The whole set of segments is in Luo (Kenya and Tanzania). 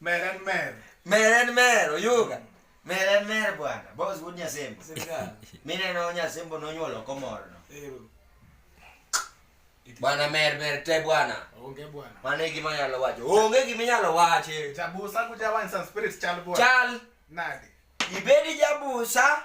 Meren mer. Meren mer oyuga. Meren mer bwana. Boss wuod Nyasembo. Mineno Nyasembo nonyuolo komorno. Bwana mer mer te bwana. Onge bwana. Mano e gima nyalo wacho. Onge gima inyalo wache. Jabusa kuja wine some spirits chal bwana. Chal. Nadi. Ibedi jabusa.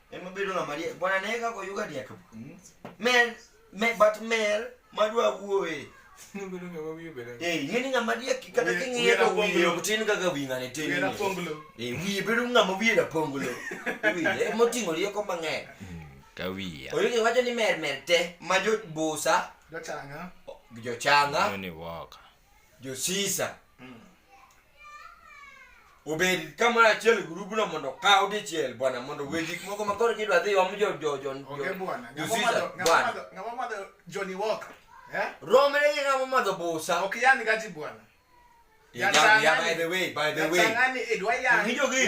Ema bedo ng'ama riek. Bwana ne kaka oyuga riek. Hmm? Mer, me, but mer madwa wuowe. Bedo ng'ama wiye bedo. Eh, ng'eni ng'ama riek kata king'iye to wiye ok tin kaka wi ng'ane tin. Wiye raponglo. Eh, wiye bedo ng'ama wiye raponglo. Wiye moting'o rieko mang'eny. Hmm, ka wiya. Oyugi wacho ni mer mer te ma jo busa. Jochanga. Jochanga. Ni waka. josisa mm. obed kamoro achiel e gurubno mondo kaw dichiel bwana mondo we gik moko ma koro kidwa dhi om romre gi ng'ama madho busa Yeah, yeah, yeah, by the way, by the way. Ng'injo gini.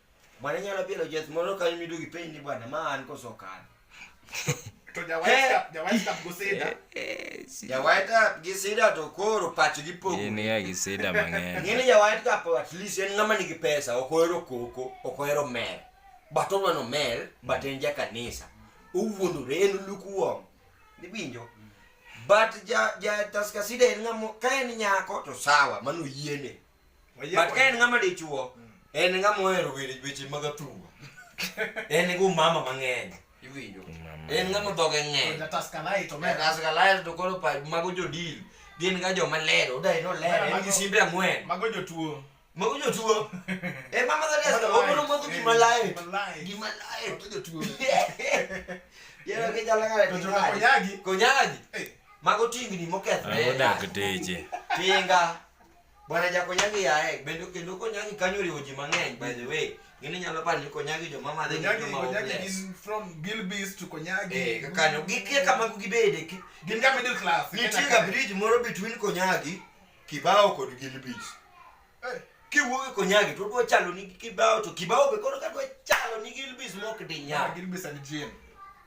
Bwana nyalo bilo jet moro kanyo midugi piny ni bwana ma an koso kan. To jawaita jawaita goseda. Jawaita gi sida to koro pach gi pogo. In ya gi sida mang'eny. Ng'eni jawaita ka po at least en ng'ama nigi pesa ok ohero koko ok ohero mer. But odwano mer but en ja kanisa. Owuondore en lukuwong. Niwinjo? But ja ja taskasida en ng'ama ka en nyako to sawa mano yiene. but ka en ng'ama dichuo mm. en ng'ama ohero weche mag athuma en gi umama mang'eny iwinjo en ng'ama dhoge ng'eny to koro mago jodil gin ga joma ler odae no ler en gi simbe ang'wen mago jotuo mago jotuo e mama dha desa omono modho gima lae gima lae to jotuo yero ke jala ngare to jona konyagi konyagi mago tingni mokethre odak teche tinga Bwana Jakonyagi yae bende kendo Konyagi kanyo oriwo ji mang'eny by the way gini nyalo paro ni Konyagi joma madhe gin Konyagi, joma Konyagi hopeless gin from Gilbis to Konyagi. eh ka kanyo gikia kama gibede ki- Gin ka middle class. nitie Kenya ga ka. bridge moro between Konyagi Kibao kod Gilbis Eh, kiwuok e Konyagi to odwa chalo ni Kibao to Kibao be koro kadwa chalo ni Gilbis mok di ah, nyal Gilbis and Jane.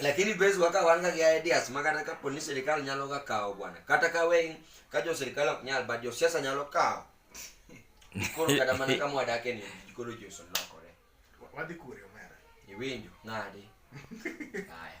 lakini base waka wanga ya ideas makata ka poni serikali nyalo ga kawo bwana kata ka we ka jo serikali ok nyal but jo siasa nyalo kawo koro kata mana ka mwadake ni koro jo solokore wadhi kure omera iwinjo nadi haya